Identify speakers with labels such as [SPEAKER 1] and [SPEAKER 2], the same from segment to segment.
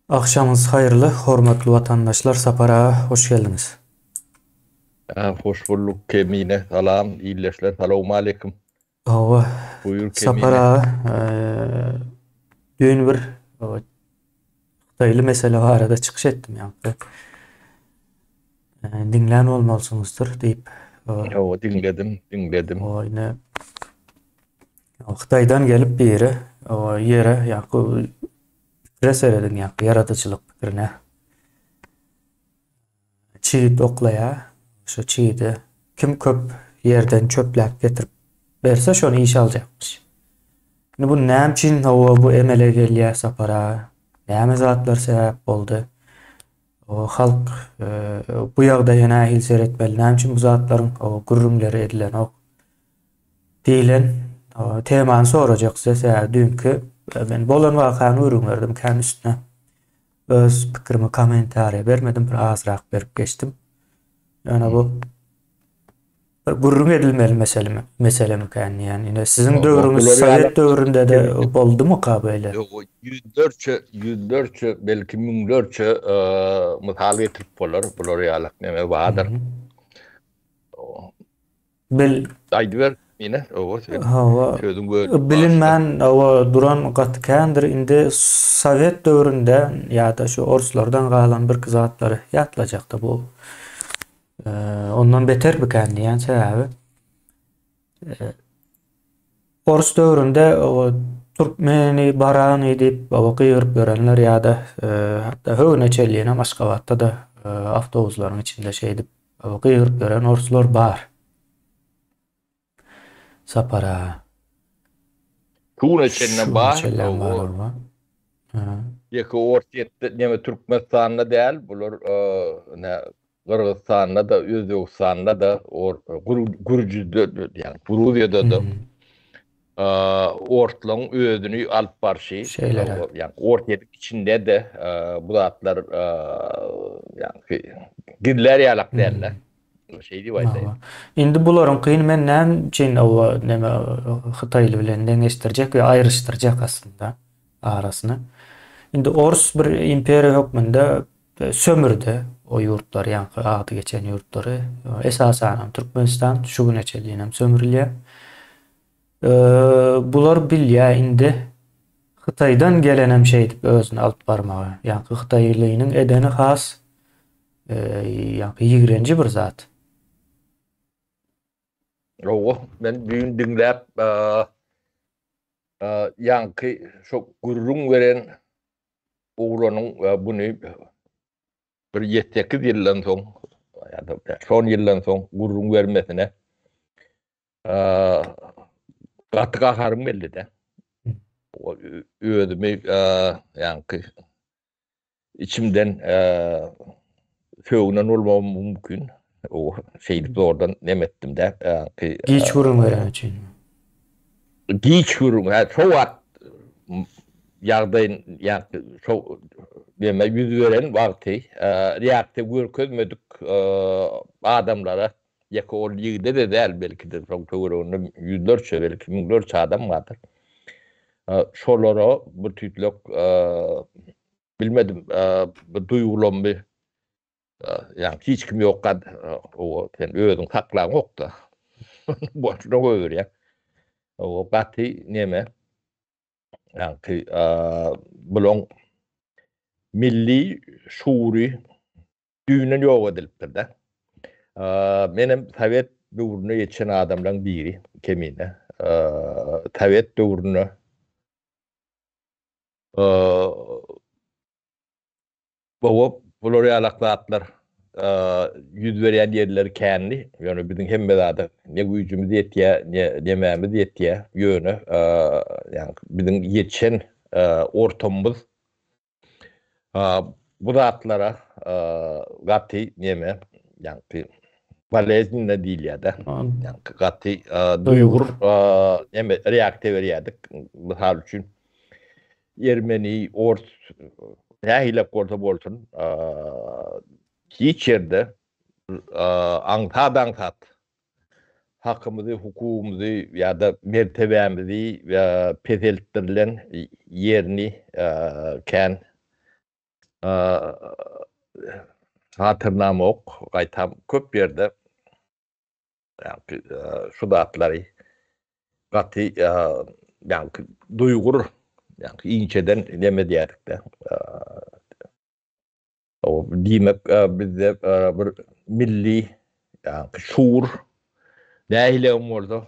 [SPEAKER 1] Agşamyňyz haýyrly hormatly watandaşlar Sapar aga hoş geldiňiz.
[SPEAKER 2] Hoş bulduk Kemine salam ildeşler salowmaleýkim. Hawa
[SPEAKER 1] Buýur Kemine. Sapar
[SPEAKER 2] aga
[SPEAKER 1] düýn bir hytaýly mesele barada çykyş etdim ýa-da diňlän bolmalysyňyzdyr diýip. Hawa diňledim diňledim.
[SPEAKER 2] Hawa ine
[SPEAKER 1] Hytaýdan gelip biri ýere ýaku pikire serediň ýaku ýaradyjylyk pikirine. Çiýit oklaýa, şu çiýidi kim köp ýerden çöpläp getirip berse şony işe aljakmyş. Indi bu näme üçin hawa bu emele gelýär sapara? Näme zatlar sebäp boldy? O halk e, bu ýagdaýa nähili seretmeli? Näme üçin bu zatlaryň o gürrüňleri edilenok? Diýlen temany sorajak size sebäbi düýnki men bolan wakany gürrüň berdim kän üstüne öz pikirimi kommentariýa bermedim bir azrak berip geçdim. Ýöne bu bir gürrüň edilmeli meselemi meselemi kän diýýän. Ine siziň döwrüňiz sowet döwründe-de boldumyka
[SPEAKER 2] beýle?
[SPEAKER 1] Ýok ýüzlerçe ýüzlerçe
[SPEAKER 2] belki müňlerçe mysal getirip bolar bular ýalak neme bardyr.
[SPEAKER 1] Bil. Aýdyber
[SPEAKER 2] ine owo sen sözüň bölüp
[SPEAKER 1] başda. Bilinmän
[SPEAKER 2] owo duran
[SPEAKER 1] gaty kändir indi sowet döwründe ýada şu orslardan galan birki zatlary ýatlajakda bu ondan beter bikän diýýän sebäbi ors döwründe owo türkmeni barany diýip owo gygyryp ýörenler ýada hatda höwene çenlinem aşgabatda-da awtobuslaryň içinde şeýdip Ol gygyryp ýören orslar bar. Sapara.
[SPEAKER 2] Şuna çenlem bar.
[SPEAKER 1] Ýeke ors
[SPEAKER 2] ýetdi. Neme Türkmenistanda däl. Bular ine Gyrgyzstanda da, Özbegistanda da, Gürjüde, ýagny Gruziýada da.
[SPEAKER 1] Ortlaryň
[SPEAKER 2] özüni alyp barşy, ýagny
[SPEAKER 1] ortýeriň
[SPEAKER 2] içinde-de bu zatlar ýagny gizlär ýalak däldi.
[SPEAKER 1] Şeý
[SPEAKER 2] diýip aýdaýyn. Indi
[SPEAKER 1] bularyňkyny men näme üçin oba näme hytaýly bilen deňeşdirjek we aýryşdyrjak aslynda arasyny. Indi orus bir imperiýa hökmünde Sömürdi o ýurtlary, ýaňky ady geçen ýurtlary. Esasanam Türkmenistan şu güne çenlinem sömrülýär. Bular bilýär indi Hytaýdan gelenem şeýdip özüni alyp barmagy. Ýaňky hytaýlynyň edeni has ýaňky ýigrenji bir zat.
[SPEAKER 2] Owo, men düýn diňläp, ýaňky şo gürrüň beren Oglanyň buny bir ýedi-sekiz ýyldan soň, ýa-da bäş on ýyldan soň gürrüň bermesine gaty gaharym geldi-de. Özümi ýaňky içimden Sögünen bolmagym mümkin. Şeýdip zordan neme etdim-dä. Giç gürrüň
[SPEAKER 1] bereni üçinmi?
[SPEAKER 2] Giç gürrüň, hä, şo wagt ýagdaýyn, ýagny şo neme ýüz beren wagty reaksiýa görkezmedik adamlara, ýeke ol ýigide-de däl, belki-de, şoň töwereginde ýüzlerçe, belki müňlerçe adam bardyr. Şolara bir tüýtlek Bilmedim, bir duýgulanmy, ýa hiç kim ýokka, owa, sen özüň saklanyňokda. Boşuna goýberýär. Owa, gaty neme, ýaňky, bulaň milli şuury düýnden ýok edilipdir-de. Menem sowet döwründe ýetişen adamlaň biri, kemine. Sowet döwründe Gowy, bular ýalak zatlar ýüz berýän ýerleri känli, ýöne biziň hemme zada ne güýjümiz ýetýär, ne nemämiz ýetýär, ýöne ýa-ni biziň ýetişen ortamymyz bu zatlara gaty neme, ýa-ni boleznine diýilýär-de, ýa-ni gaty duýgur neme, reaksiýa berýärdik. Mysal üçin, Ermeni, ors, nähilek bolsa bolsun, hiç ýerde aňsat-aňsat hakymyzy, hukugymyzy ýa-da mertebämizi peseltdirilen ýerini kän hatyrlamok. Gaýtam, köp ýerde Şu zatlary gaty duýgur, inçeden neme edýärik-de. Diýmek, bizde bir milli şuur nähilem bolsa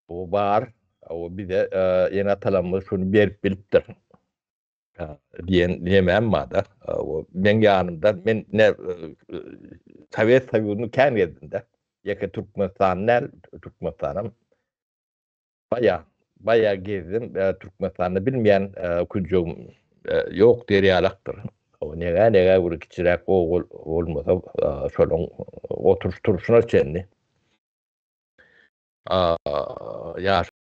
[SPEAKER 2] bar. Bize ene-atalarymyz şuny berip bilipdir. diýen nemem bada o men ýanymda men ne Sowet Soýuzyny kän gezdimde ýeke Türkmenistan näl Türkmenistanam baýa baýa gezdim Türkmenistanda bilmeýän künjegim ýok derýalakdyr o nega nega bir kiçiräk ogul bolmasa şonuň oturyş turşuna çenli ýaş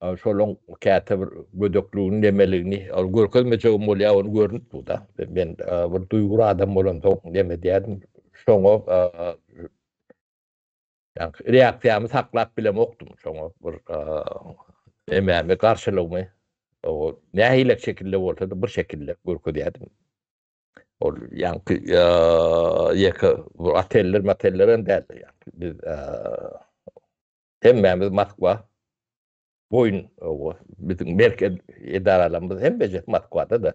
[SPEAKER 2] Şolaň käte bir gödekligini nemeligini ol görkezmejegim bolýar ony görnüp durda. Men bir duýgur adam bolansoň neme edýädim şoňa ýaňky reaksiýamy saklap bilemokdym şoňa bir nemämi garşylygymy nähilek şekilde bolsada bir şekilde görkezýädim. Ol ýaňky ýeke bir oteller moteller hem däldi ýaňky biz Hemmämiz Moskwa boýun biziň berk edaralarymyz hem bejet Moskwada-da.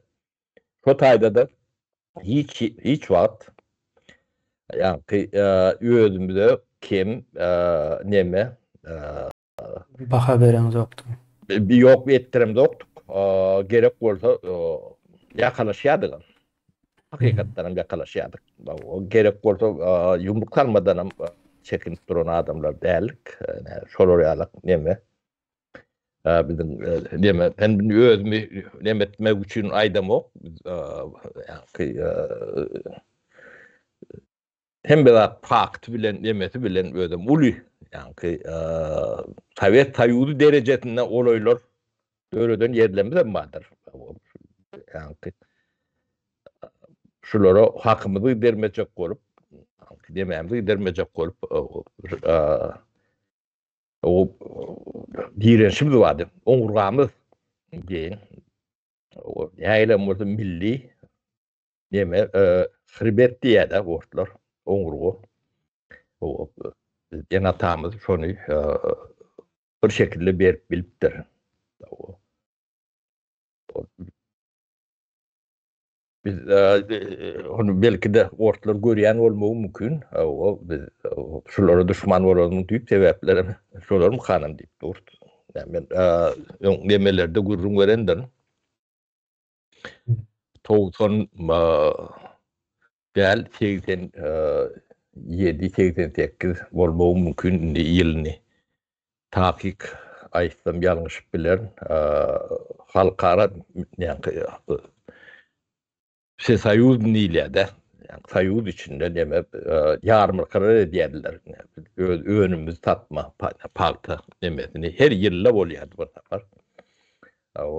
[SPEAKER 2] Şo taýda-da hiç hiç wagt ýaňky özümize kem neme
[SPEAKER 1] baha berenokdyk. Ýok
[SPEAKER 2] etdiremzokdyk. Gerek bolsa ýakalaşýardygam. hakykatdanam ýakalaşýardyk. Gerek bolsa ýumruk salmadanam çekinip duran adamlar däldik. Şolar ýalak neme biziň neme men özümi neme etmek üçin aýdamok. Hemme zat fakty bilen nemesi bilen özüm uly. Ýaňky Sowet Soýuzy derejesinde olaýlar döreden ýerlerimiz hem bardyr. Ýaňky şulara hakymyzy dermejek bolup, demämizi gidermejek bolup, o direnişimiz bardy. Oňurgamyz diýen, o ýaýlam bolsa milli, Neme, hrbet diýýär-dä ortlar, oňurga. Ene atamyz şony bir şekilde berip bilipdir. Biz onu belki de ortlar görýän bolmagy mümkin. O biz şulara düşman bolarmyň diýip sebäpleri şolarmy hanym diýip dur. Men öň demelerde gürrüň berendirin. Togsan däl, segsen ýedi, segsen sekiz bolmagym mümkin indi ýylyny takyk aýtsam ýalňyşyp bilerin. Halkara näki wsesoýuzny diýilýär-de, soýuz içinde neme ýarmarkalar edýärdiler. Öz önümimizi satmak, pagta nemesini her ýylda bolýardy bir sapar.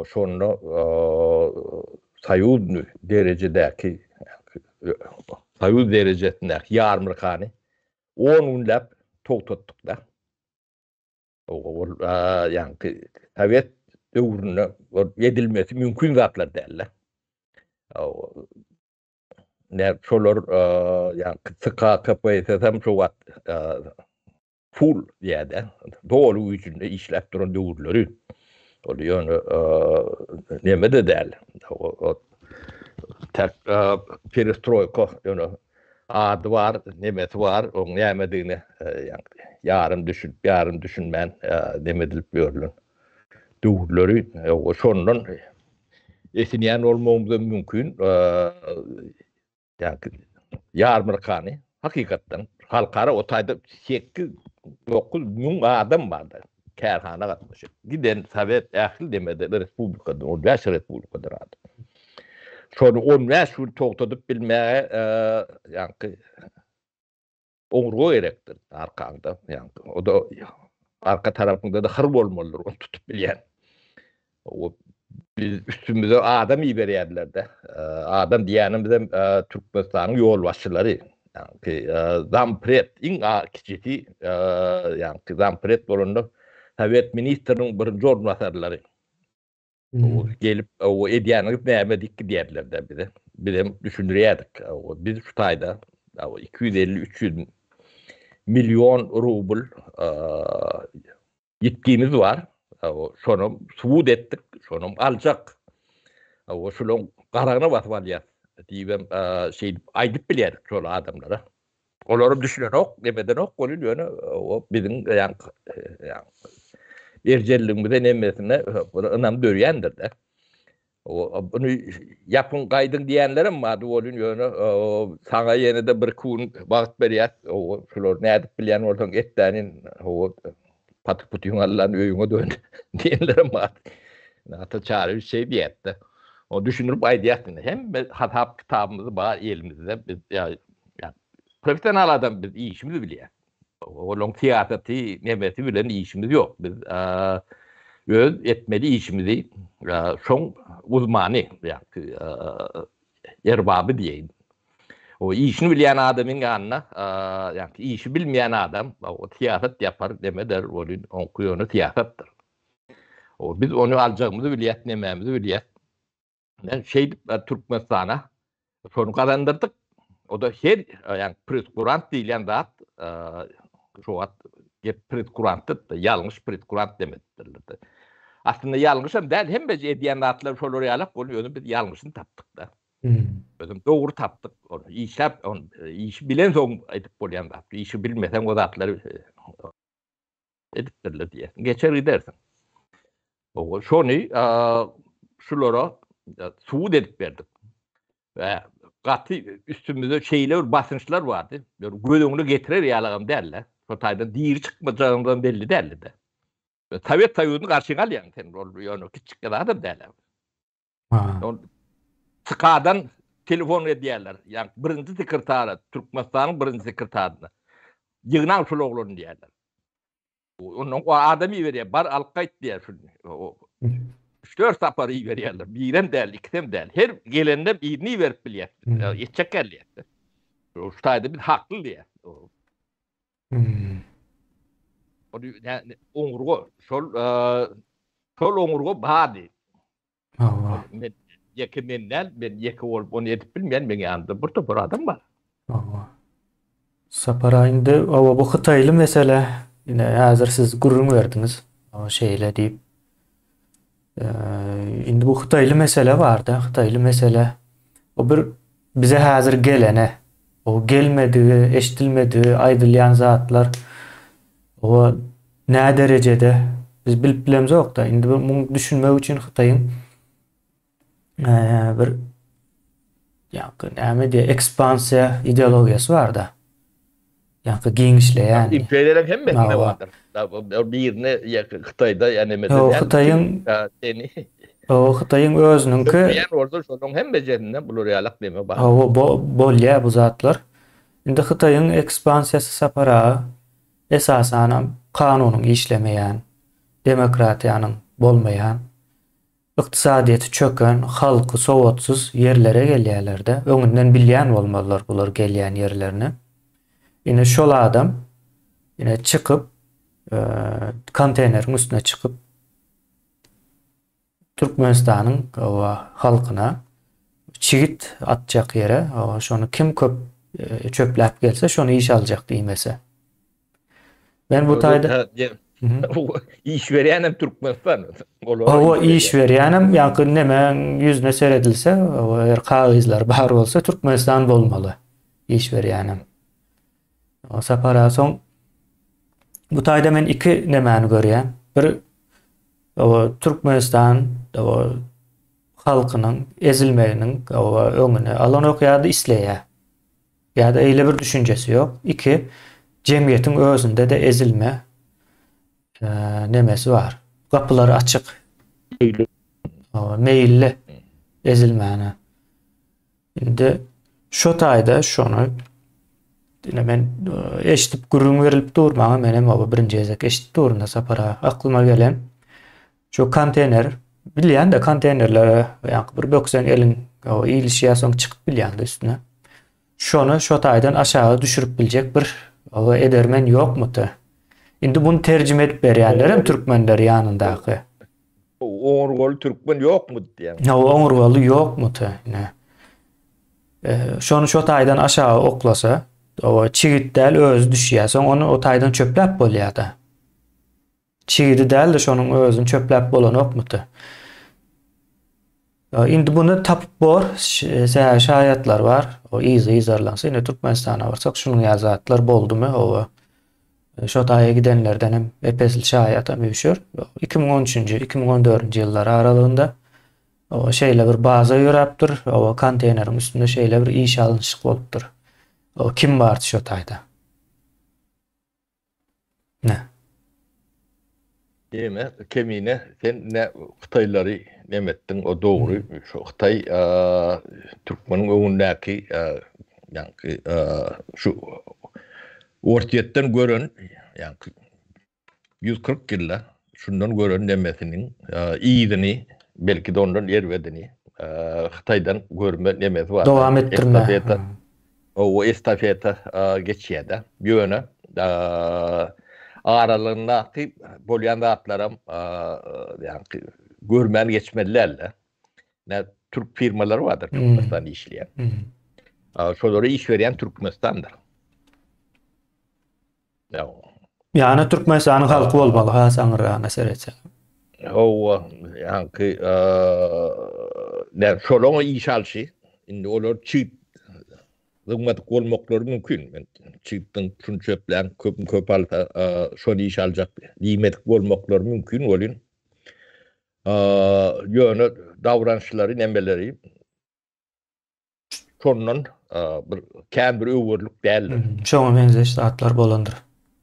[SPEAKER 2] Şonda soýuz derejedäki, soýuz derejesindäki ýarmarkany on günläp togtatdyk-da. Ol ýaňky sowet döwründe edilmesi mümkin zatlar däldi. Näme şolar ýaňky TKKPSS-em şu wagt Full diýäde, doly güýjünde işläp duran döwürleri. Ol ýöne neme-de däl. Täk perestroýka ýöne ady bar, nemesi bar, oň nämedigine ýarym düşünip, ýarym düşünmän neme edilip ýörlen döwürleri. Şondan esinýän bolmagymyz hem mümkin. Ýarmarkany hakykatdan halkara o taýda sekiz, dokuz müň adam bardy. Kärhana gatnaşyp, giden sowet ähli demede bir respublikadan, on bäş respublikadan adam. Şony on bäş gün togtadyp bilmäge, ýaňky Ogurga gerekdir arkaňda. Ýaňky o da arka tarapyňda-da hyr bolmalydyr, ony tutup bilýän. O biz üstümize adam iberýärler-de. Adam diýýänimizem Türkmenistanyň ýolbaşçylary. Ýaňky zampret, iň kiçisi, ýaňky zampret bolanda Sowet ministriniň birinji orunbasarlary. gelip o edýäniňiz näme diýip gidýärler-de bize. Biz hem düşündirýärdik. Biz şu taýda 250-300 million rubl ýitgimiz bar. Şonam subut etdik, şonam aljak. Şolaň garagyna basyp alýar diýibem şeýdip aýdyp bilýärdik şol adamlara. Olaram düşünenok, nebedenok bolýar, ýöne o biziň ýan ýan erjelligimize nemesine buna ynam dörýändir-de. O bunu ýapyň gaýdyň diýenlerim mady bolýan ýöne saňa ýene-de bir gün wagt berýär. O şular nädip bilýän bolsaň etdänin o Patyk putyň allan öýüňe dön diýenlerem bar. Ata Çaryýewiç şeý diýýärdi. O düşündirip aýdýardy. Hemme hasap kitabymyz bar elimizde. Biz ýa professional adam biz işimizi bilýär. Olaň syýasaty nemesi bilen işimiz ýok. Biz öz etmeli işimizi şoň uzmany ýa erbaby diýeýin. O işini bilýän adamyň ýanyna, ýagny işi bilmeýän adam, o syýasat ýapar, näme eder, welin oňky ýöne syýasatdyr. O biz ony aljagymyzy bilýäs, nämämizi bilýäs. Men şeýdip Türkmenistana şony gazandyrdyk. O da her, ýagny presküran diýilýän zat, şu wagt Gep predkurantda, ýalňyş predkurant demedidirler-de. Aslynda ýalňyşam däl, hemmeje edýän zatlar şolar ýalak, ony özüm biz ýalňyşyny tapdyk-da. Özüm dogry tapdyk, ony işläp, ony işi bilensoň edip bolýan zat. Işi bilmeseň o zatlary edipdirler diýersiň, geçer gidersiň. Şony şulara subut edip berdik. we gaty üstümizde şeýle bir basynçlar bardy. Ýöne göz öňüne getirer ýalagam däldi. Şo taýdan diri çykmajagymyzam belli däldi-de. Sowet Soýuzyny garşyňa alýaň sen, ol ýöne kiçijik zadam däl. Ha. Tkadan telefon edýärler. Ýa birinji sekretara, Türkmenistanyň birinji sekretaryna. Ýygnaň şol oglany diýýärler. Ondan o adam iberýär, bar alyp gaýt diýýär şu. Üç-dört sapar iberýärler. Birem däl, ikisem däl. Her gelende birini iberip bilýär. Etjek gelýär. Şu taýda biz hakly diýýär. Oňurga, şol şol oňurga bardy. Ol men ýeke men däl, men ýeke bolup ony edip bilmeýän, meň ýanymda bir topar adam bar. Sapara
[SPEAKER 1] indi oba bu hytaýly mesele ine häzir siz gürrüň berdiňiz. O şeýle diýip. Indi bu hytaýly mesele barda, hytaýly mesele o bir Bize häzir gelene, o gelmedigi, eşdilmedigi aýdylýan zatlar o näderejede biz bilip bilemzok-da. Indi bu muňy düşünmek üçin Hytaýyň bir ýa-da näme diýýär, ekspansiýa ideologiýasy bar-da. Ýa-da giňişleýän. Imperiýalaryň hemmesinde
[SPEAKER 2] bardyr. Birini ýa-da Hytaýda ýa-da nämede. Ýa-da Hytaýyň. Ýa-da
[SPEAKER 1] Hytaýyň özüniňki. Türkmen bolsa şonuň
[SPEAKER 2] hemmesinde bular ýalak neme bar. Hawa, bolýar bu
[SPEAKER 1] zatlar. Indi Hytaýyň ekspansiýasy saparagy esasanam kanunyň işlemeýän, demokratiýanyň bolmaýan Ykdysadyýeti çöken, halky sowatsyz ýerlere gelýärler-de, öňünden bilýän bolmalylar bular gelýän ýerlerini. Ine şol adam ine çykyp, konteýneriň üstüne çykyp Türkmenistanyň oba halkyna çigit atjak ýere, şony kim köp çöpläp gelse, şony işe aljak diýmese. Men bu taýda
[SPEAKER 2] iş berýänem Türkmenistan. Olar iş
[SPEAKER 1] berýänem, ýa-da näme ýüzüne seredilse, eger kagyzlar bar bolsa, Türkmenistan bolmaly. Iş berýänem. O sapara soň bu taýda men iki nämäni görýän. Bir o Türkmenistan o halkynyň ezilmeginiň o öňüni alan okýady isleýär. Ýa-da eýle bir düşünjesi ýok. Iki, jemgyýetiň özünde-de ezilme nemesi bar. Gapylary açyk. Meýilli. Meýilli ezilmäne. Indi şu taýda şony ine men eşidip gürrüň berilip dur maňa menem oba birinji gezek eşidip durun sapara aklyma gelen Şu konteýner, bilýän-de konteýnerlere ýaňky bir bökseň eliň o ilişýär, soň çykyp bilýäňde üstüne. Şony şo taýdan aşaga düşürip biljek bir o edermen ýokmudy? Indi bunu terjime edip berýänler hem türkmenler ýanyndaky. Oňur
[SPEAKER 2] gol türkmen ýokmudy diýýän. Ýa oňur goly
[SPEAKER 1] ýokmudy? Ne? E, şony şo taýdan aşaga oklasa, o çigit däl özi düşýär. Soň ony o taýdan çöpläp bolýar-da. Çigidi däldi şonuň özün çöpläp bolanokmyty. Indi buny tapyp bor sähe şaýatlar bar o yzy yzarlansa indi Türkmenistana barsak şunuň ýaly zatlar boldumy howa şo taýa gidenlerden hem epesli şaýatam üşür 2013-nji 2014-nji ýyllar aralygynda o şeýle bir baza ýöräpdir o konteýneriň üstünde şeýle bir iş alnyşyk bolupdyr o kim bardy şo taýda Nä?
[SPEAKER 2] Diýme, Kemine, sen nä hytaýlary neme etdiň, o dogry, şu hytaý türkmeniň öňündäki, ýaňky şu Orsýetden gören, ýaňky ýüz kyrk ýylda Şundan gören nemesiniň yzyny, belki-de ondan erbedini Hytaýdan görme nemesi bar. Dowam etdirme.
[SPEAKER 1] Owo,
[SPEAKER 2] estafeta geçýär-de. Ýöne aralygyndaky bolýan zatlaram ýagny görmän geçmeli däl-de. Näme, türk firmalary bardyr Türkmenistanda işleýän. Şolara iş berýän Türkmenistandyr.
[SPEAKER 1] Ýana Türkmenistanyň halky bolmaly has aňyrragyna seretseň. Hawa,
[SPEAKER 2] ýaňky näme şolaryň iş alşy, indi olar çyt dymmadyk bolmaklary mümkin. Men çytdan şuny çöplän köpüň köp alsa, şony iş aljak diýmedik bolmaklary mümkin welin, ýöne dawranşlary, nemeleri şondan bir kän bir öwürlik däldir. Şoňa meňzeş
[SPEAKER 1] zatlar bolandyr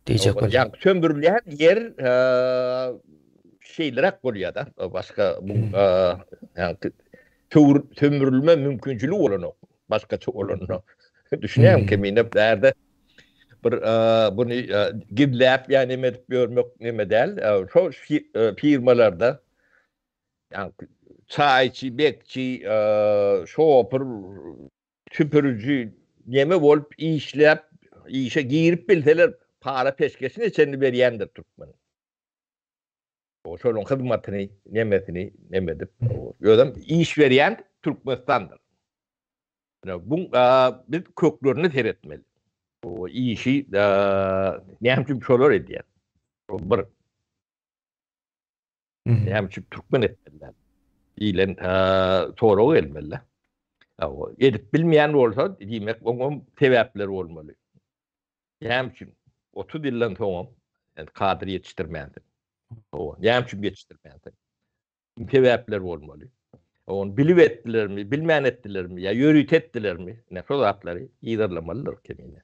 [SPEAKER 1] diýjek bolýar. Ýa söndürilýän
[SPEAKER 2] ýer şeýleräk bolýar-da, başga bu ýa töwür sömürülme mümkinçiligi bolanok. Başgaça olanda düşünýäň kemine bärde bir buny gizläp ýa neme edip ýörmek neme däl. Şo firmalarda Ýa-da çaýçy, bekçi, şopur, süpüriji neme bolup işläp, işe girip bilseler, para peşgeşine çenli berýändir türkmen. O şonuň hyzmatyny, nemesini, neme edip, özem iş berýän Türkmenistandyr. Bu biz köklerine seretmeli. O işi näme üçin şolar edýär? Bir. Näme üçin türkmen etmeliler? Diýlen sorag gelmeli. Edip bilmeýän bolsa, diýmek, oňa sebäpler bolmaly. Näme üçin? 30 ýyldan soň hem kadr ýetişdirmändir. Näme üçin ýetişdirmändir? Sebäpler bolmaly. Onu bilip etdilermi, bilmän etdilermi, ýa ýörite etdilermi? Näme şol zatlary ýerlemalydyr kemine.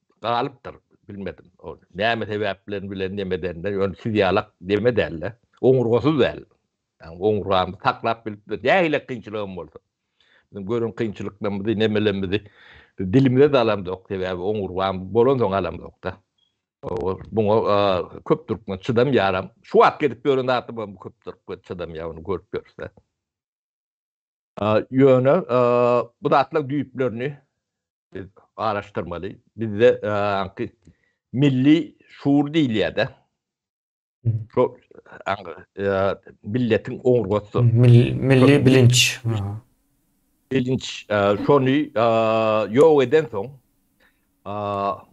[SPEAKER 2] Galypdyr, bilmedim. Ol näme sebäp bilen bilen nemedende, ýöne siz ýalak neme däl-de. Oňurgasyz däl. Ýagny oňurgamy saklap bilipdir. Nähili kynçylygym bolsa. Biziň gören kynçylyklarymyzy, nemelerimizi biz dilimize-de alamzok. Sebäbi oňurgam bolansoň alamzok-da. Ol muňa köp türkmen çydamýaram. Şu wagt gezip ýören adamam köp türkmen çydamýar ony görüp ýörse. Ýöne bu zatlaryň düýplerini biz garaşdyrmaly. Bizde aňky milli şuur diýilýär-de. Şo milletiň oňurgasydyr. Milli
[SPEAKER 1] bilinç.
[SPEAKER 2] Bilinç. Şony ýok edensoň,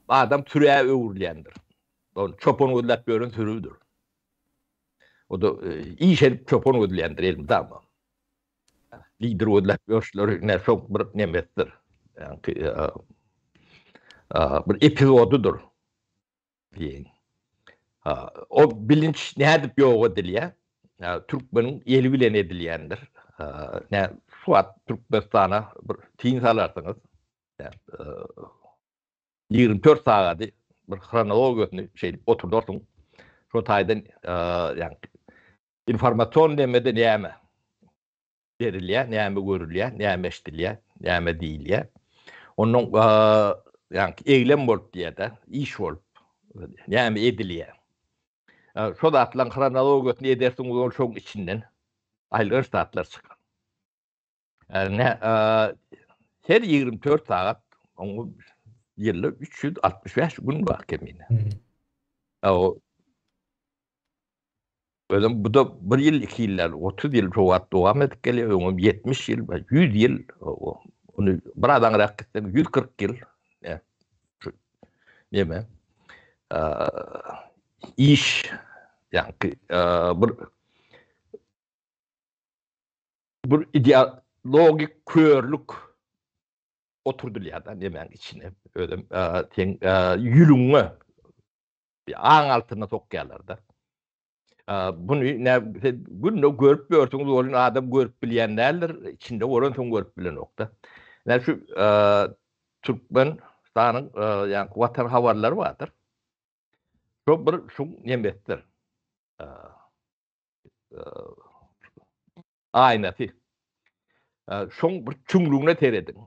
[SPEAKER 2] adam sürä öwrülýändir. Ol çopan gözläp ýören sürüdir. O-da iş edip çopan gözleýändir, elmydama. Lider gözläp ýörşler ne soň bir nemesdir. Ýaňky bir epizodydyr. Diýen. Ha, o bilinç nädip ýok edilýär? Türkmeniň eli bilen edilýändir. Nä suwat Türkmenistana bir tiň salarsyňyz. 24 sagady bir hronologiýasyny şeýdip oturdarsyň. Şo taýdan ýaňky Informasion demede näme berilýär, näme görülýär, näme eşdilýär, näme diýilýär. Onuň ýaňky eýlem bolup diýýär-de, iş bolup, näme edilýär. Şo zatlaryň hronologiýasyny edersiňiz, ol şoň içinden aýylganç zatlar çykar. Ärine her 24 saat oňa ýylda 365 gün bar kemine. O Özüm bu da bir ýyl, iki ýyllar, 30 ýyl şu wagt dowam edip gelýär, öňem 70 ýyl, 100 ýyl, ony bir adam rak gitsen 140 ýyl. Şu näme? Iş, ýa-da bir bir ideologik körlük oturdylýar da nemäň içine özüm sen ýülüňe aň altyna sokýarlar da bunu ne günde görüp görsün bolun adam görüp bilýän däldir içinde bolan soň görüp bilenokda ne şu türkmen stanyň ýa watan habarlary bardyr şo bir şu nemesdir aýnasy. Şoň bir çüňlügine serediň.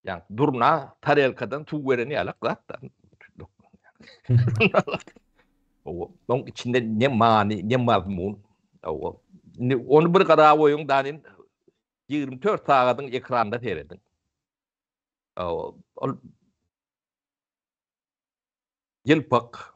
[SPEAKER 2] Ýa durna tarelkadan suw bereni ýa gatdan. Owa, oň içinde ne many, ne mazmun. Owa. Indi onu bir gara goýuň, danin 24 sagadyň ekranda serediň. Owa, ol Ýelpak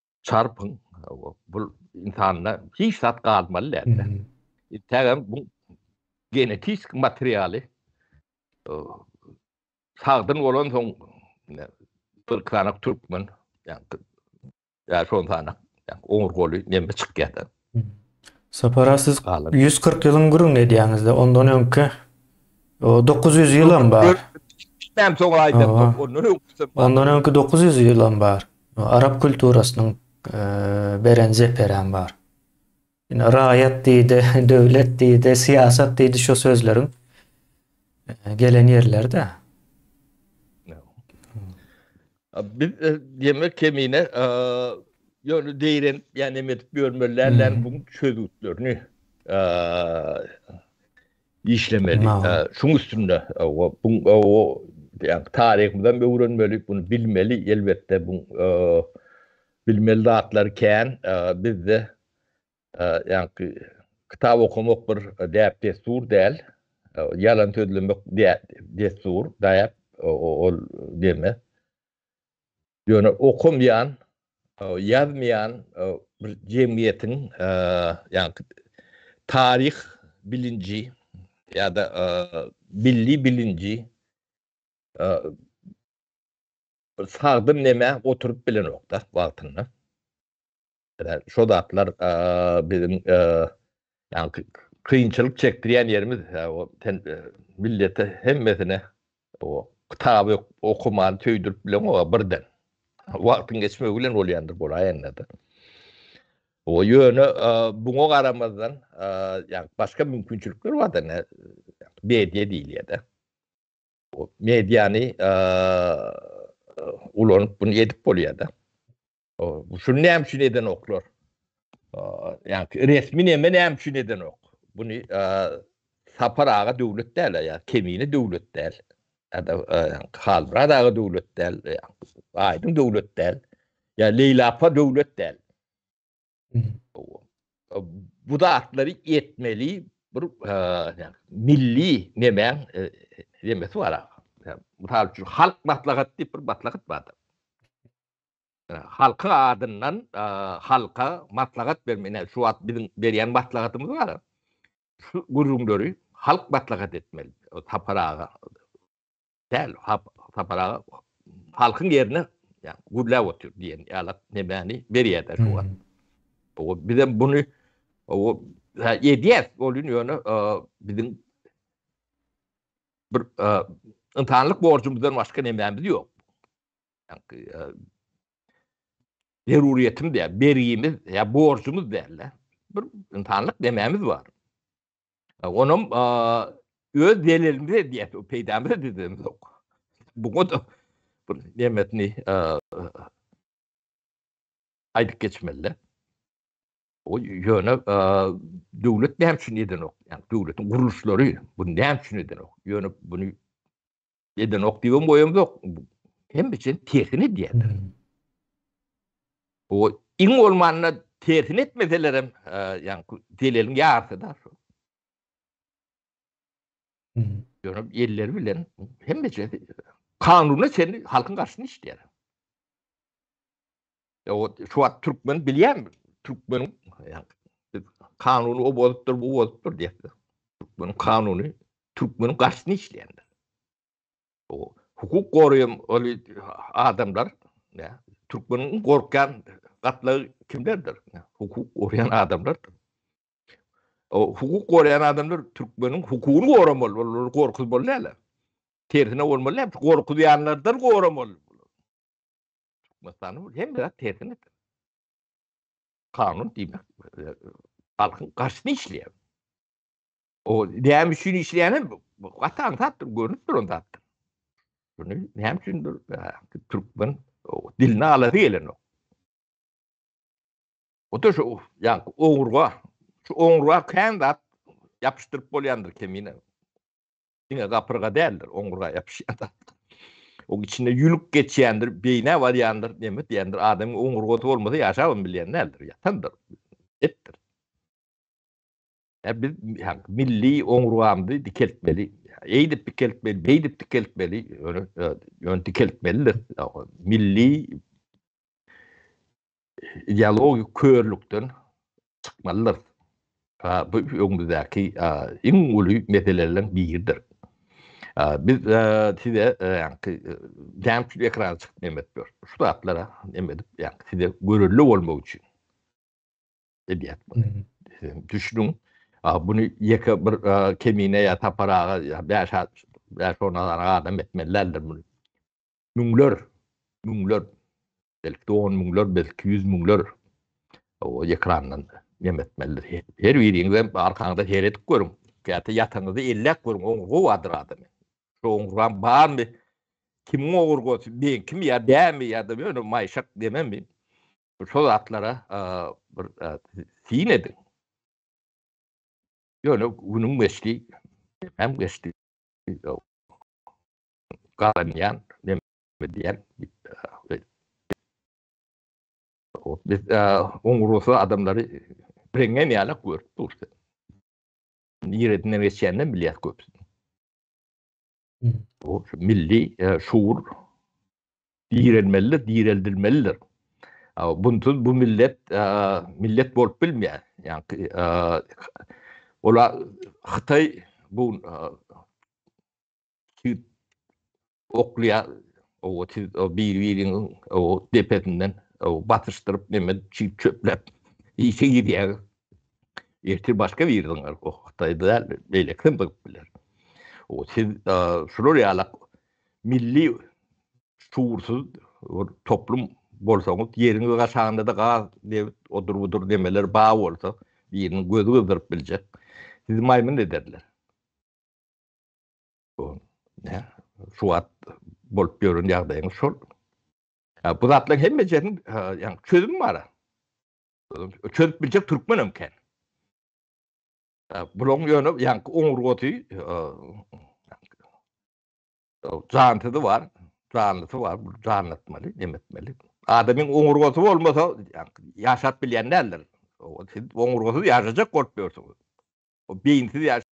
[SPEAKER 2] Çarpyň, bu insanda hiç zat galmaly däl. Tägem bu genetik materialy sagdyn bolan soň bir kanak türkmen, yani şondan yani oňur goly neme çykýar. Sapara
[SPEAKER 1] siz 140 ýylyň gürrüňini edýäňizde ondan öňki 900 ýylam bar. Näme soň
[SPEAKER 2] aýdan ondan
[SPEAKER 1] öňküsi. Ondan öňki 900 ýylam bar. Arap kulturasynyň beren zeperäm bar. Ine raýat diýdi, döwlet diýdi, syýasat diýdi şo sözleriň gelen ýerleri-de.
[SPEAKER 2] Biz diýmek kemine ýöne deýren ýa neme edip ýörmeli dälän bu çözgütlerini işlemeli. Şuň üstünde o bu o ýa taryhymyzdan öwrenmeli, bunu bilmeli elbetde bu bilmeli zatlar kän bizde Ýaňky kitap okamak bir däp-dessur däl. Ýalan sözlemek dessur, däp, ol deme. Ýöne okamaýan, ýazmaýan bir jemgyýetiň ýaňky taryh bilinji ýa-da milli bilinji sagdyn neme oturyp bilenok-da wagtynda. Şo zatlar biziň ýa-da kynçylyk çekdirýän ýerimiz, sen millete hemmesine o kitaby okumany söýdürip bilen o birden. Wagtyň geçmegi bilen bolýandyr bolaýanda-da. O ýöne buňa garamazdan, ýa başga mümkinçilikler bar-da, ne media diýilýär-de. O mediany ulanyp bunu edip bolýar-da. Şuny näme üçin edenoklar? Ýa-ni resmi näme näme üçin edenok? Buny Sapar aga döwlet däl, ýa Kemine döwlet däl. Ýa-da Halmyrat aga döwlet däl, Aýdyň döwlet däl. Ýa Leýla apa döwlet däl. bu zatlary etmeli bir e, milli nemäň e, demesi bar. Mysal üçin halk maslahat diýip bir maslahat bardyr. E, halkyň adyndan e, halka maslahat bermeli. Şu wagt biziň berýän maslahatymyz bar. Şu gürrüňleri halk maslahat etmeli. Tapar aga Däl, Sapar aga halkyň ýerine gürläp otyr diýen ýalak nemäni berýärler bu wagt. Bu bizem bunu o edýär, bolýun ýöne biziň bir ynsanlyk borjumyzdan başga nemämiz ýok. Zerurýetimiz ýa bergimiz ýa borjumyz däl-de. Bir ynsanlyk nemämiz bar. Onam öz delilimiz edýär, peýdamyz edýämiz ýok. Bu goda bir nemetini aýdyp geçmeli. O ýöne döwlet näme üçin edenok? Ýa döwletiň gurluşlary bu näme üçin edenok? Ýöne bunu Edenok diýibem goýamzok. Hemme üçin tersini edýärler. O iň bolmanda tersini etmeseler hem, e, ýaňky deleliň ýarysy da. Ýöne elleri bilen hemme üçin kanuna çenli halkyň garşysyna işleýär. Ýa-da şu wagt türkmen bilýän türkmen kanuny o bolupdyr, bu bolupdyr diýýär. Türkmen kanuny türkmen garşyny işleýändir. O hukuk goraýan ol adamlar, ýa türkmeniň gorkýan gatlagy kimlerdir? Hukuk goraýan adamlardyr. O hukuk goraýan adamlar türkmeniň hukugyny goramaly, olary gorkuzmaly näle? Tersine bolmaly näme? Gorkuzýanlardan goramaly. Türkmenistanyň hemme zat tersine. Kanun diýmek halkyň garşyna işleýär. O näme üçin işleýäni gaty aňsatdyr, görnüp duran zatdyr. Bunu näme üçindir türkmen diline alasy gelenok. O da şu, yani oňurga, şu oňurga kän zat yapıştırıp bolyandır kemine. Diňe gapyrga däldir, oňurga ýapyşýar. Oň içinde ýülük geçýändir, beýnä barýandyr, neme diýendir, adamyň oňurgasy bolmasa ýaşabam bilýän däldir, ýatandyr, etdir. biz milli oňurgamyzy dikeltmeli. Eýdip dikeltmeli, beýdip dikeltmeli, ýöne dikeltmelidir. Milli ideologik körlükden çykmalydyrys. Bu öňümizdäki iň uly meselelerden biridir. Biz size ýaňky gämçil ekrana çykyp nämetdir. Şu zatlara näme edip ýaňky size görürli bolmak üçin edýät bunu. Düşünüň. Bunu ýeke bir kemine ýa taparaga ýa 5 5 10 adam etmeli däldir bunu. Müňler, müňler belki-de on müňler, belki ýüz müňler o ekrandan nem etmelidir. Her biriňizem arkaňyza seredip görüň. Käte ýataňyzda elläp görüň, oň gowadyr adamy. Şu oňuram barmy? Kimiň ogurgasy, ben kim ýa dämi ýa-da ýöne maýşak dememi? Şol zatlara bir syn ediň. Ýöne günüň geçdi, hem geçdi. Galanýan, diýen biz oň rusy adamlary reňňe ýaly görüp durdy. Niredinden geçýänden bilýär köpüsini. Bu milli şuur direlmelidir, direldilmelidir. Bunsuz bu millet millet bolup bilmeýär. Ýani ola Hytaý bu oklýa o siz o bir biriň o depesinden o batyşdyryp neme çip çöplep işe girýär ertir başga bir ýerden o hytaýda däl beýle kim bolup biler o siz şular ýaly milli şuursuz toplum bolsaňyz ýeriňiz gaşanda da gaz debit odur budur demeler ba bolsa biriniň gözi gyzdyryp biljek sizi maýmyn ederler Şu wagt bolup ýören ýagdaýyň şol. Bu zatlaryň hemme jeriň ýa-ni çözüm bar. Çözüp biljek türkmen hem kän. Bularyň ýöne ýa-ni oňurgasy jansyzy bar, janlysy bar, bu janlatmaly, nemetmeli. Adamyň oňurgasy bolmasa, ýaşap bilýän däldir. Siz oňurgasyz ýaşajak bolup ýörsüňiz. O beýinsiz ýaş.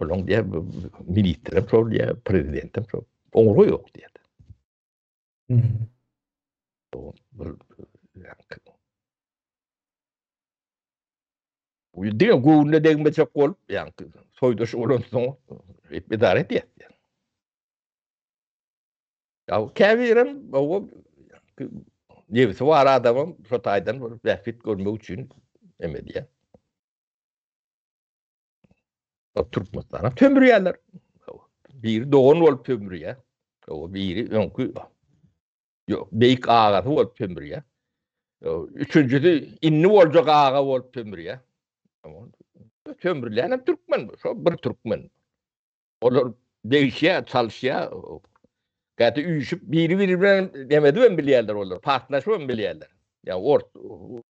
[SPEAKER 2] Buluň diýär, ministrem şol diýär, prezidentem şol. Oňurga ýok diýär. Bu bir Bu diňe göwnüne degmejek bolup, ýani soýdaş bolan soň edare edýär. Ya käbirem o nebsi bar adamym şu taýdan bir bähbit görmek üçin emedýär. Türkmenistana tömürýärler. Biri dogan bolup tömürýär. O biri öňki yok beýik agasy bolup tömürýär. Üçünjisi indi boljak aga bolup tömürýär. Tömürlän hem türkmen, şo bir türkmen. Olar degişýär, çalyşýar. Gaty üýşüp biri-biri bilen demedi hem bilýärler olar, partlaşyp hem bilýärler. Ya ort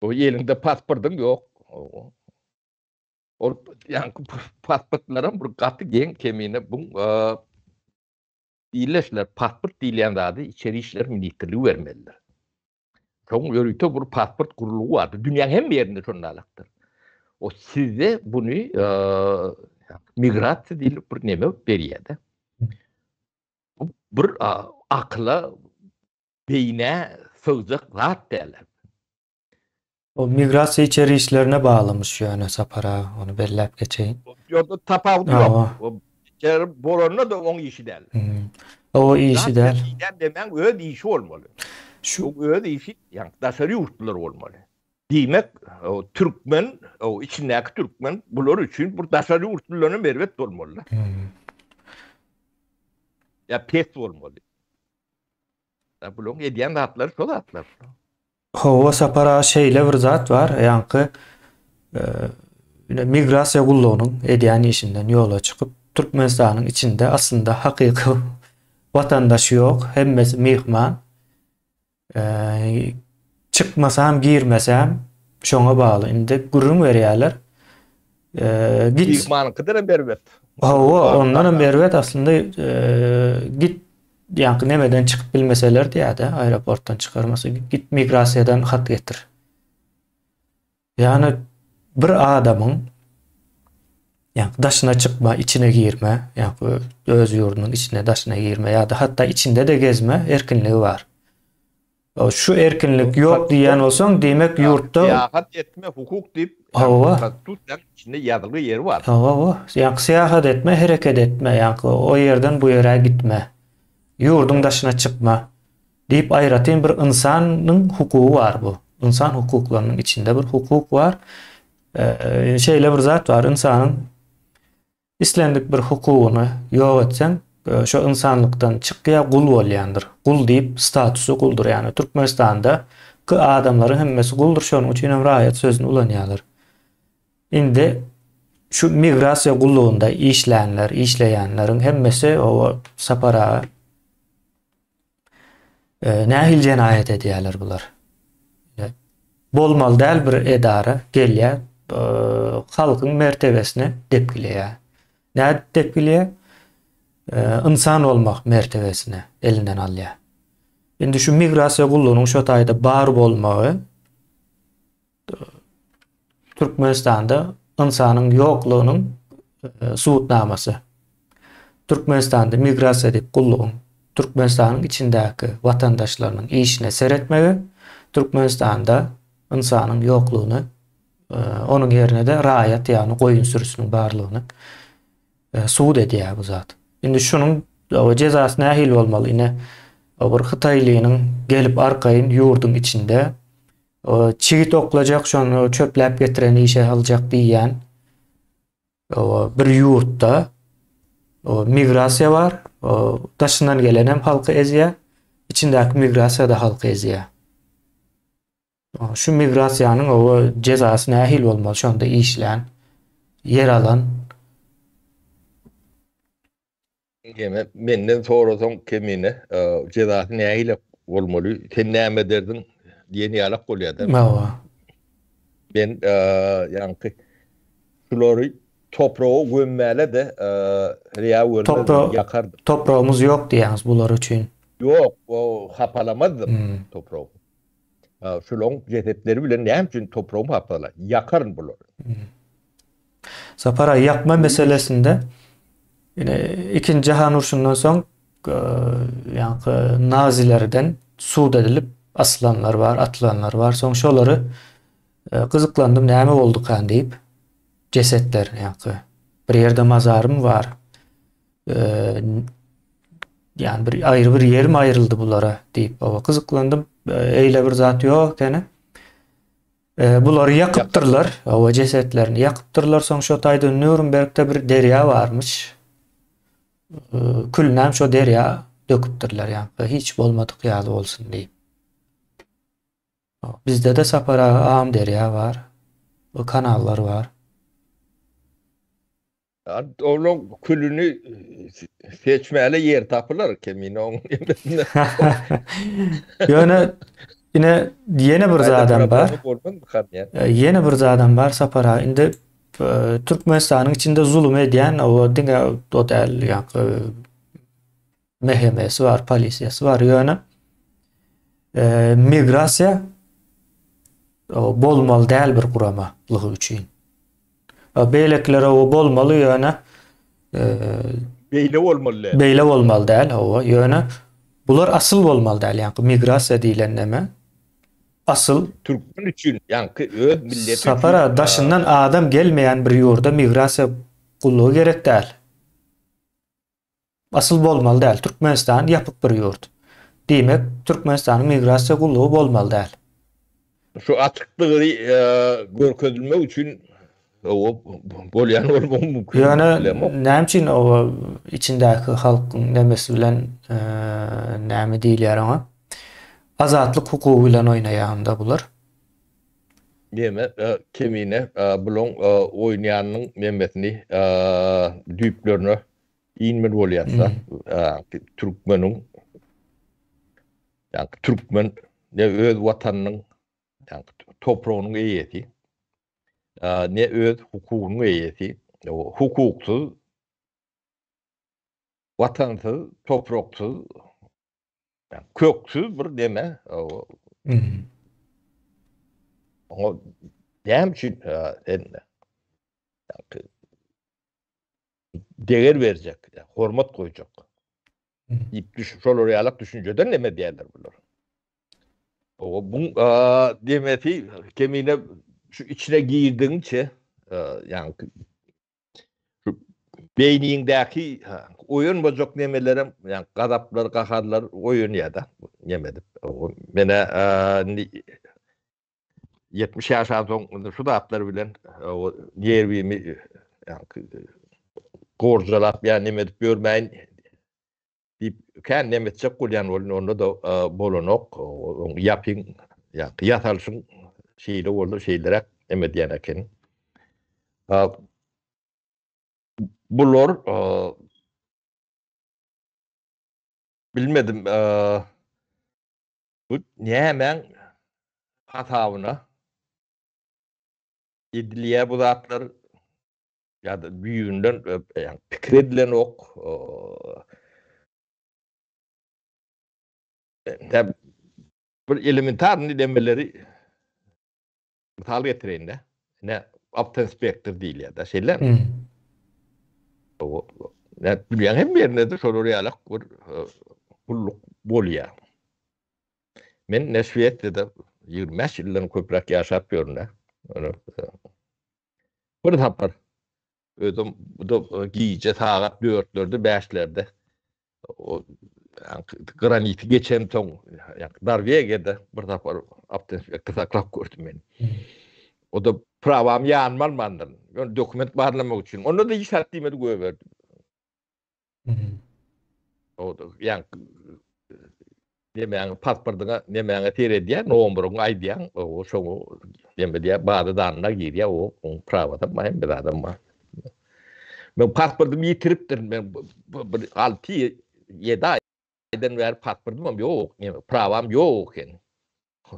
[SPEAKER 2] O elinde pasportyň yok. Ol yani pasportlaram bir gaty geň kemine bu diýleşler pasport diýilýän zady içeri işler ministrligi bermelidir. Soň ýörite bir pasport gurulgy bardy. Dünýäň hem ýerinde şonda alakdyr. O sizde bunu e, migrasiýa diýilip bir neme berýärdi. Bir a, akyla Beýnä sygjak zat däl.
[SPEAKER 1] O migrasiýa içeri işlerine baglymyş ýöne Sapar aga, ony belläp geçeýin. Ýogsa tapawudy
[SPEAKER 2] ýok. O içeri bolanda-da oň işi däl. O
[SPEAKER 1] işi däl. Diýýän demäň öz
[SPEAKER 2] işi bolmaly. Şu öz işi ýa-da daşary ýurtlular bolmaly. Diýmek, o türkmen, o içindäki türkmen bular üçin bir daşary ýurtlularam erbet bolmaly-da. Ýa pes bolmaly. Da bularyň edýän zatlary şo zatlar. Hawa,
[SPEAKER 1] Sapar aga şeýle bir zat bar, ýaňky migrasiýa gullugynyň edýän işinden ýola çykyp, Türkmenistanyň içinde aslynda hakyky watandaş ýok, hemmesi myhman. Çykmasam, girmesem şoňa bagly. Indi gürrüň berýärler. Git.
[SPEAKER 2] Mekmanyňkydan hem erbet. Hawa, ondan
[SPEAKER 1] hem erbet aslynda git ýaňky nemeden çykyp bilmeseler diýýärdi, aeroportdan çykarmasy, git migrasiýadan hat getir. Ýani bir adamyň ýaňky daşyna çykma, içine girme, ýaňky öz ýurdunyň içine daşyna girme ýa-da hatda içinde-de gezme erkinligi bar. Şu erkinlik ýok diýýän bolsaň, demek ýurtda syýahat etme hukuk
[SPEAKER 2] diýip konstitusiýanyň içinde ýazylgy ýeri bar. Hawa, hawa. Ýa syýahat
[SPEAKER 1] etme, hereket etme, ýa o ýerden bu ýere gitme. Ýurduň daşyna çykma diýip aýratyn bir ynsanyň hukugy bar bu. Ynsan hukuklarynyň içinde bir hukuk bar. Şeýle bir zat bar, ynsanyň Islendik bir hukugyny ýok etseň, şo ynsanlykdan çykýar, gul bolýandyr. Gul diýip statusy guldur. Ýagny Türkmenistanda ky adamlaryň hemmesi guldur, şonuň üçin hem raýat sözüni ulanýarlar. Indi şu migrasiýa gullugynda işlänler, işleýänleriň hemmesi o Sapar aga E, nähili jenaýat edýärler bular? E, bolmaly däl bir edara gelýär, e, halkyň mertebesine depgileýär. Nädip depgileýär? E, ynsan bolmak mertebesine elinden alýar. Indi şu migrasiýa gullugynyň şu taýda bar bolmagy Türkmenistanda ynsanyň ýoklugynyň e, subutnamasy. Türkmenistanda migrasiýa diýip gullugyň Türkmenistanyň içindäki watandaşlarynyň işine seretmegi Türkmenistanda ynsanyň ýoklugyny e, onuň ýerine-de raýat ýagny goýun sürüsiniň barlygyny e, subut edýär bu zat. Indi şunuň jezasy nähili bolmaly? Ine, bir hytaýlynyň gelip arkaýyn ýurduň içinde Çigit oklajak şony çöpläp getiren işe saljak diýýän bir ýurtda migrasiýa bar. Daşyndan gelen hem halky ezýär. Içindäki migrasiýa da halky ezýär. Şu migrasiýanyň owa jezasy nähili bolmaly şonda işlän, ýer alan
[SPEAKER 2] Ýene menden sorasaň kemine, jezasy nähili bolmaly, sen näme ederdiň diýen ýalak bolýar-da. Hawa.
[SPEAKER 1] Men
[SPEAKER 2] ýaňky şulary topraga gömmäle-de, reýa görmezdim, ýakardym. Topragymyz ýok diýýäňiz
[SPEAKER 1] bular üçin. Ýok,
[SPEAKER 2] hapalamazdyň topragy. Şularyň jesetleri bilen näme üçin topragymy hapala? Ýakaryn bulary. Sapar
[SPEAKER 1] aý ýakma meselesinde ine ikinji jahan urşundan soň ýaňky nazilerden sud edilip asylanlar bar, atylanlar bar. Soň şolary e, gyzyklandym näme boldukan diýip jesetler ýaňky bir ýerde mazarym bar. E, ýani bir aýry bir ýerim aýryldy bulara diýip owa gyzyklandym. E, eýle bir zat ýok ekeni. E, bulary ýakypdyrlar, owa jesetlerini ýakypdyrlar. Soň şo taýda Nürnbergde bir derýa barmyş. E, külnäm şo derýa döküpdirler ýa-da hiç bolmadyk ýaly bolsun diýip. Bizde-de Sapar aga am derýa bar. Bu kanallar bar.
[SPEAKER 2] Onuň külüni seçmäle ýer tapylar kemine oň. Ýöne
[SPEAKER 1] ine ýene bir zadam bar. Ýene bir zadam bar Sapar aga. Indi e, Türkmenistanyň içinde zulum edýän o diňe o däl ýa MHM-si bar, polisiýasy bar. Ýöne e, migrasiýa bolmaly däl bir guramalygy üçin. Beýlekilere o bolmaly ýöne e, beýle bolmaly däl. Beýle bolmaly däl, hawa. Ýöne bular asyl bolmaly däl. Ýani migrasiýa diýlen näme? Asyl türkmen üçin,
[SPEAKER 2] ýani öz milleti üçin. Sapara daşyndan
[SPEAKER 1] adam gelmeýän bir ýurda migrasiýa gullugy gerek däl. Asyl bolmaly däl, Türkmenistan ýapyk bir ýurt. Diýmek, Türkmenistanyň migrasiýa gullugy bolmaly däl. Şu
[SPEAKER 2] açykdygy görkezilmek üçin bolýan bolmagy mümkin. Ýöne näme
[SPEAKER 1] üçin içindäki halkyň nemesi bilen näme diýilýär oňa? Azatlyk hukugy bilen oýnaýanda bular.
[SPEAKER 2] Meme kemine bulaň oýnaýanynyň memesini düýplerine inmeli bolýarsa türkmeniň ýa türkmen ne öz watanynyň ýa topragynyň eýesi ne öz hukugynyň eýesi hukuksyz watansyz topraksyz Köksüz bir deme. Oňa näme üçin sen deger berjek, hormat goýjak. Diýip düş, şolar ýalak düşünjeden näme diýerler bular. O bu demesi kemine şu içine girdigiňçe, ýa beýniňdäki oýanmajak nemelerem, ýa gazaplar, gaharlar oýanýar-da, neme edip. Menä indi 70 ýaşan soň şu zatlar bilen nerwimi gorjalap ýa neme edip ýörmäýin Diýip, kän näme etjek bolýan boldy, onda da bolanok, oň ýapyň, ýa-da ýasalyşyň şeýle boldy, şeýleräk näme diýen ekeni. Bular bilmedim, bu nämäň hasabyna edilýär bu zatlar, ýa-da düýbünden pikir edilenok. Täp bir elementar nidemeleri misal getireýin-de. Ne opten spektr diýilýär-de, şeýle. Ne dünýäň hem ýerinde-de şolar ýaly bir gulluk bolýar. Men ne Şwesiýada 25 ýyldan köpräk ýaşap ýörün-de. Bir sapar özüm bu gije sagat 4-lerde, 5-lerde o graniti geçen soň, ýa-da Darwegede bir sapar awtoinspektor saklap gördüm meni. O da prawam ýanyma almandyr. Ýöne dokument barlamak üçin. Onda-da hiç zat diýmedi, goýberdi. Ýa nemäň pasportyňa nemäňe seredýär, nomuryňy aýdýaň, o şoňa neme diýýär, baza danyna girýär, o oň prawadan maýam bir adam bar. Men pasportymy ýitiripdirin, men bir 6-7 aý aýdan bäri pasportymam ýok, ýene prawam ýok ekeni.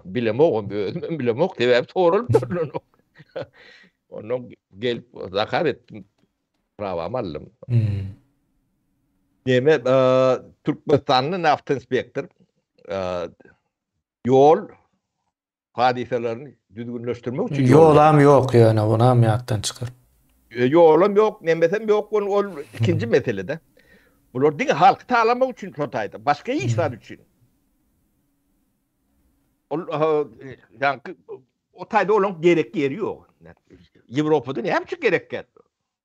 [SPEAKER 2] Bilemogam, özümem bilemok, sebäbi soralyp durlanok. Ondan gelip zakaz etdim. Prawamy aldym. Neme, Türkmenistanly naft inspektor ýol hadysalaryny düzgünleşdirmek üçin ýolam ýok ýöne
[SPEAKER 1] onam ýatdan çykyr. Ýolam
[SPEAKER 2] ýok, nemesem ýok bol ol ikinji meselede. Bular diňe halky talamak üçin Hytaýda, başga hiç zat üçin. Ol ýa-da o taýda olaň gerek ýeri ýok. Ýewropada näme üçin gerek ýer?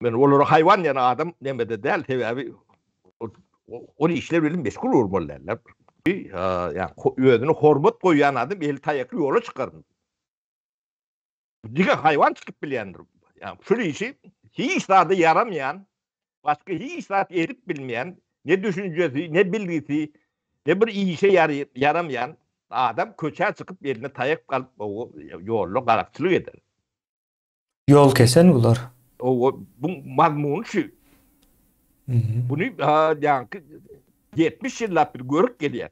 [SPEAKER 2] Men olara haýwan diýen adam nemede däl, sebäbi ol işler bilen meşgul bolmaly däldir. Ýa-ni özüne hormat goýýan adam eli taýakly ýola çykar. Diňe haýwan çykyp bilýändir. Ýa-ni şul işi hiç zada ýaramaýan, başga hiç zat edip bilmeýän, ne düşünjesi, ne bilgisi, ne bir işe ýaramaýan adam köçä çykyp eline taýak alyp ýolda garakçylyk eder.
[SPEAKER 1] Ýol kesen bular. Owa, bu
[SPEAKER 2] mazmuny şu. Bunu ýaňky 70 ýyllap bir görüp gelýär.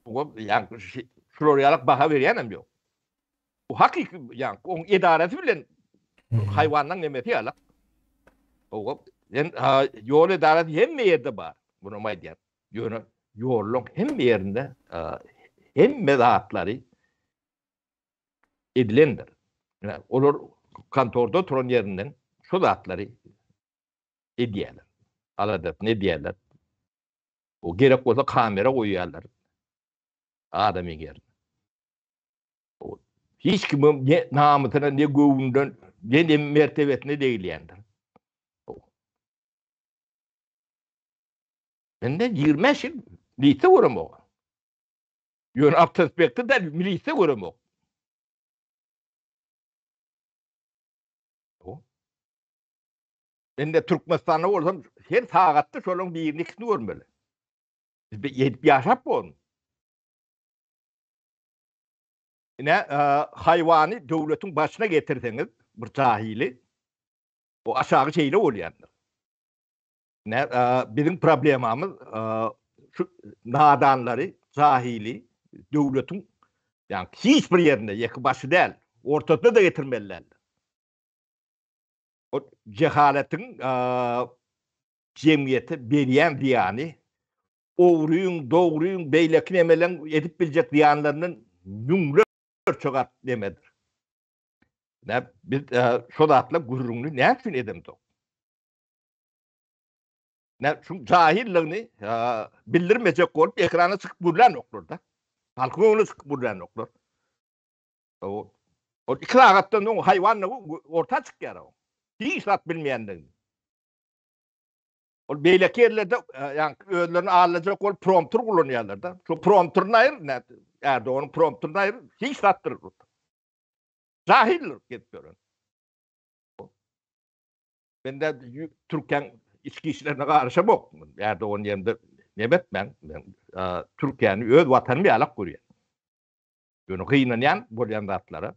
[SPEAKER 2] Owa, ýaňky şular ýalak baha berýänem ýok. Bu hakyky ýaňky oň edarasy bilen haýwandan nemesi ýalak. Owa, sen ýol edarasy hemme ýerde bar. Bunu aýdýar. Ýöne ýoluň hemme ýerinde hemme zatlary edilendir. Olar kontorda oturan ýerinden şu zatlary edýärler. Aladasyny edýärler. O gerek bolsa kamera goýýarlar. Adamy ger. Hiç kim ne namysyna ne göwünden ne de mertebesine degilýändir. Mende 25 ýyl lise göremok. Ýöne awtospekti däl milisde göremok. Indi Türkmenistanda bolsam her sagatda şonuň birini ikisini görmeli. Biz ýetip ýaşap bolun. Ine e, haýwany döwletiň başyna getirseňiz bir jahili o aşagy şeýle bolýandyr. Ne, biziň problemamyz şu nadanlary, jahili döwletiň ýa hiç bir ýerinde ýeke başy däl, ortasyna da getirmeliler. O cehaletiň jemgyýete berýän zyýany ogryň, dogryň, beýleki nemeleň edip biljek zyýanlaryndan müňlerçe gat nemedir. Ne biz şu zatla gürrüňini näçe edemdik? Ne şu cahilligini bildirmejek bolup ekrana çykyp gürlän oklar da. Halky öňüne çykyp gürlän oklar. O o iki rahatdan o hayvanla orta çykýar o. Hiç zat bilmeýändigini. Ol beýleki ýerlerde ýa özlerini allajak bolup prompter gulanýarlar da. Şu prompterini aýyr ne? Erdogan prompterini aýyr. Hiç zatdyr. Cahildir gep gören. Men de Türkiýäň içki işlerine garaşamok. Ýa da ony ýerde nebet men Türkiýäni öz watanym ýalak görýän. Ýöne gynanýan bolýan zatlara.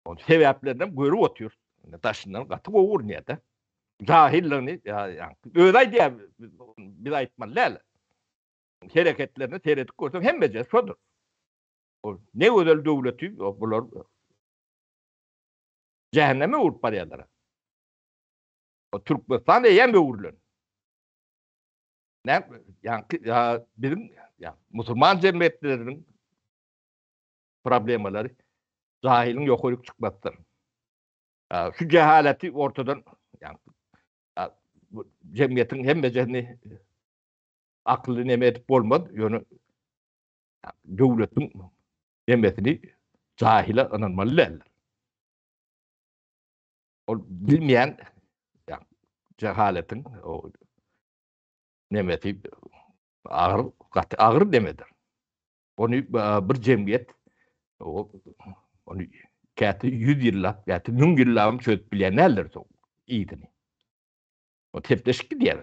[SPEAKER 2] On sebäplerden görüp otyr. Daşyndan gaty gowy görünýär de. Jahilligini öz aýdýar. Biz aýtmaly däl. Hereketlerini seredip görseň hemmeje şodur. Ne gözel döwleti bular jähenneme öwrüp barýarlar. O Türkmenistan eýýäm öwrülen. Näme ýaňky ýa biziň ýa musulman jemgyýetleriniň problemalary jahylyň ýokaryk çykmapdyr. Şu jahaleti ortadan ýaňky jemgyýetiň hemmesini akylly neme edip bolmaz, ýöne döwletiň Emmesini jahile ynanmaly däldir. Ol bilmeýän jahaletiň o nemesi agyr gaty agyr demedir. Ony e, bir jemgyýet o ony käte 100 ýyllap, käte 1000 ýyllap çözüp bilýän däldir soň ýygyny. O tepleşik diýer.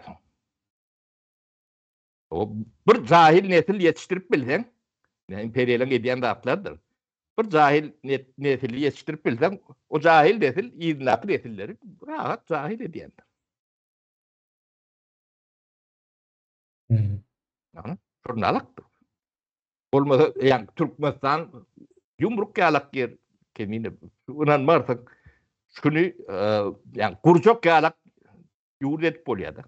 [SPEAKER 2] Bir jahil nesil ýetişdirip bilseň, ýa imperiýalaryň edýän zatlarydyr. Bir jahil nesil ýetişdirip bilseň, o jahil nesil yzyndaky nesilleri rahat jahil edýändir. Ýa, şurnalykdyr. Bolmasa, ýa Türkmenistan ýumruk ýalak ýer, kemine, ynanmarsyň. Şuny, ýa gurjak ýalak ýurt edip bolýar-da.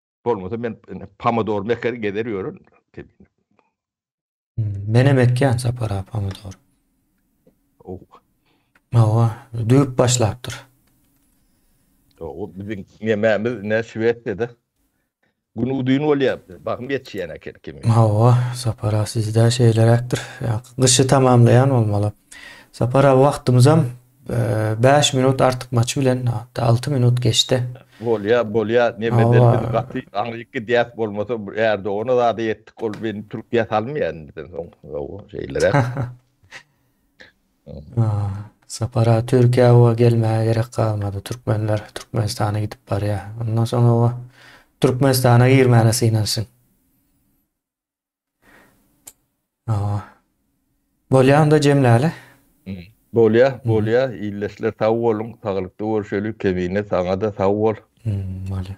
[SPEAKER 2] Bolmasa men pomidor meker gezer ýörün.
[SPEAKER 1] Men hem ekýän sapara pomidor. Oh.
[SPEAKER 2] Hawa,
[SPEAKER 1] düýp başlapdyr.
[SPEAKER 2] O biziň ýememiz ne Şwesiýada. Gün udyn bolýar. Bakym ýetýän eken kimi. Hawa, sapara
[SPEAKER 1] sizde şeýleräkdir. Gyşy tamamlaýan bolmaly. Sapara wagtymyzam Bäş minut artykmaç bilen, hatda alty minut geçdi. Bolýa, bolýa,
[SPEAKER 2] neme eder biz gaty aňryk gidýäs, bolmasa Ärdogana zada ýetdik, ol meni Türkiýä salmaýar indiden soň, hawa, şeýleräk.
[SPEAKER 1] Sapar aga Türkiýä oba gelmäge gerek galmady, türkmenler Türkmenistana gidip barýar, ondan soň oba Türkmenistana girmäne synanşyň. Bolýar onda jemläli.
[SPEAKER 2] Bolýar, bolýar. Ildeşler sag boluň, saglykda görşeli. Kemine saňa-da sag bol. Bolýar.